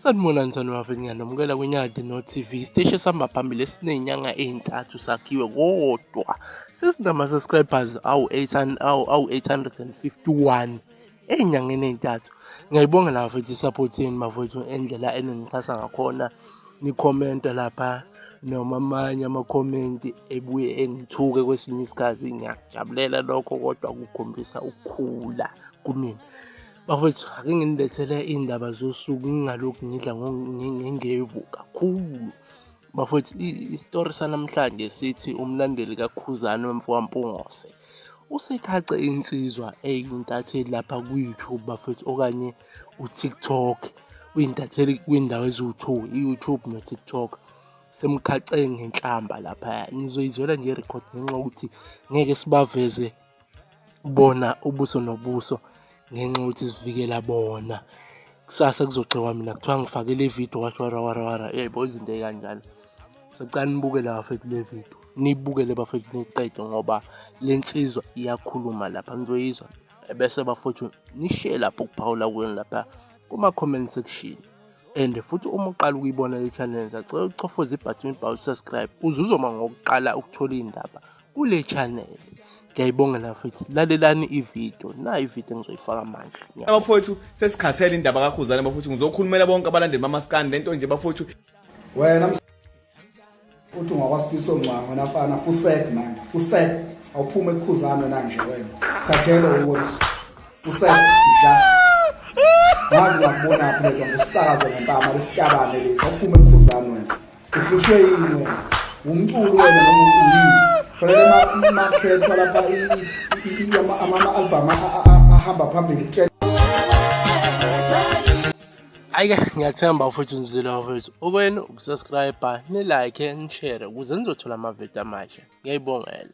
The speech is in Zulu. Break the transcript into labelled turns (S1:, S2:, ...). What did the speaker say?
S1: Sanibonani mthando wafe ngiyanamukela kwinyadi no-tv isiteshi esihamba phambili esinenyanga ey'ntathu sakhiwe kodwa sesinama-subscribers awu-851 ey'nyangeni ey'ntathu ngiyayibonga la mfethu i-support yenu bafowethu endlela eningixhasa ngakhona nikhomenta lapha noma amanye amakhomenti ebuye engithuke kwesinye isikhathi ngiyakujabulela lokho kodwa kukhombisa ukukhula kumina Bafowethu ake nginilethele iy'ndaba zosuku ngingalokhu ngidla ngengevu kakhulu. Bafowethu isitori sanamhlanje sithi umlandeli kaKhuzani wemfokaMpungose usekhace insizwa eyintatheli lapha ku-YouTube bafowethu okanye u-TikTok. Uyintatheli kwindawo eziwu-two, i-YouTube no-TikTok. Semkhace ngenhlamba laphaya. Nizoyizwela nje i-record ngenxa yokuthi ngeke sibaveze bona ubuso nobuso ngenxa yokuthi sivikela bona kusasa kuzogxekwa mina kuthiwa ngifakele ividiyo wathi warawarawara yebo izinto ey'kanjalo sicela nibukele bafethu le vidiyo nibukele bafethu niqede ngoba le nsizwa iyakhuluma lapha nizoyizwa ebese bafowethu nishe lapho kuphawula kwenu lapha kuma-comment section and futhi uma uqala ukuyibona le channel sacela ucofoze ibhathini ibhawu subscribe uzuzoma ngokuqala ukuthola iy'ndaba kule channel ngiyayibongela futhi lalelani ividiyo nayo ividiyo engizoyifaka manje abafowethu
S2: sesikhathele indaba kakhuzane bafowethu ngizokhulumela bonke abalandeli bamaskani lento nje bafowethu wena
S3: uthi ungakwasifiso ngcwango nafana fusek man fusek awuphume ekukhuzane wena nje wena sikhathele ukuthi fusek ja ngazi ngakubona phi lento ngusakaze ngempama lesitabane lesi awuphume ekukhuzane wena Uhlushwe yini wena? Wumculi wena noma uyini? Khona market lapha ama album ahamba phambili kutshela
S1: Ayike ngiyathemba mfowethu nizile mfowethu. Okwenu ukusubscribe, ni-like, ni-share ukuze nizothola amavidiyo amasha. Ngiyayibongela.